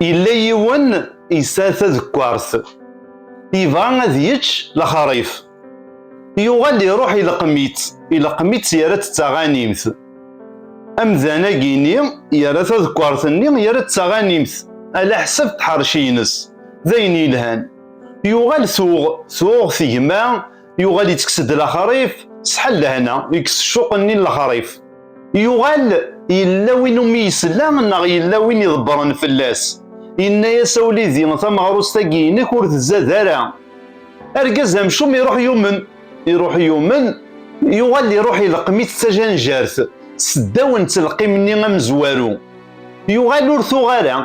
Yella yiwen yesɛa tadekkart, yebɣa ad yečč lexrif. Yuɣal iruḥ ileqqem-itt, ileqqem-itt yerra-tt d taɣanimt. Amdan-agi-nni yerra tadekkart-nni yerra-tt d taɣanimt alaḥsab d tḥerci-ines, d ayen yelhan. Yuɣal tuɣ, tuɣ tegma yuɣal yetteks-d laxarif sḥal lehna yekkes ccuq-nni n laxarif yuɣal yella win umi yesla neɣ yella win iḍebbren fell-as yenna-yas a wlidi tameɣrust-agi inek ur tzad ara argaz amcum iruḥ yumen iruḥ yumen yuɣal iruḥ ileqqem-it d tajanjart seddaw n telqim-nni amezwaru yuɣal ur tuɣ ara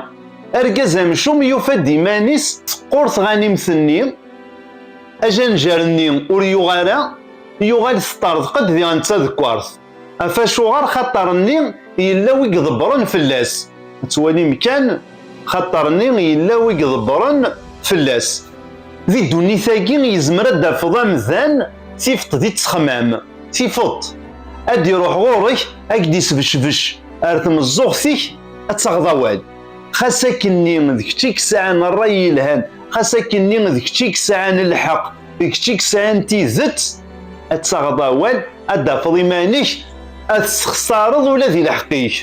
argaz amcum yufa-d iman-is teqqur tɣanimt-nni Ajanjar-nni ur yuɣ ara, yuɣal teṭṭerḍeq-d diɣ netta deg waṛt. Af acuɣer xaṭer-nni yella wi iḍebbren fell-as. Ad twalim kan, xaṭer-nni yella wi iḍebbren fell-as. Di ddunit-agi yezmer ad d-tafeḍ amdan tifeṭ di ttexmam, tifeṭ, ad d-iṛuḥ ɣuṛ-k, ad k-d-isbecbec ar tmeẓẓuɣt-ik, ad taɣeḍ awal. xas akken-nni d kečč i yesɛan ṛṛay yelhan, xas akken-nni d kečč i yesɛan lḥeqq, d kečč i yesɛan tidet, ad taɣeḍ awal, ad d-tafeḍ iman-ik, ad tessexṣareḍ ula di lḥeqq-ik.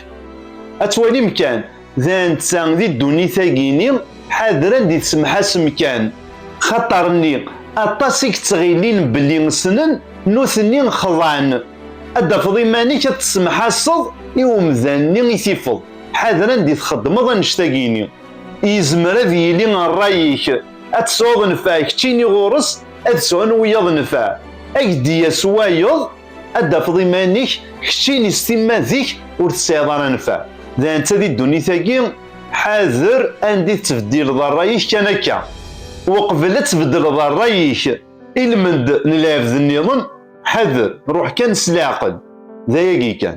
Ad twalim kan, d netta di ddunit-agi-nni, ḥadren di tsemḥasem kan, xaṭer-nni aṭas i yettɣillin belli ssnen, nutni xeḍɛen. Ad d-tafeḍ iman-ik ad tessemḥaseḍ i umdan-nni i tifeḍ. Ḥader anda i txeddmeḍ annect-agi-nni. Yezmer ad yili rray-ik ad tesɛuḍ nnfeɛ keččini ɣur-s ad sɛun wiyaḍ nnfeɛ. Ad k-d-yas wayeḍ ad d-tafeḍ iman-ik keččini s timma zik ur tesɛiḍ ara nnfeɛ. D netta di ddunit-agi, ḥader anda i tettbeddileḍ rray-ik kan akka. Uqbel ad tbeddleḍ rray-ik i lmend n lɛebd-nniḍen, ḥader, ruḥ kan s leɛqel. D ayagi kan.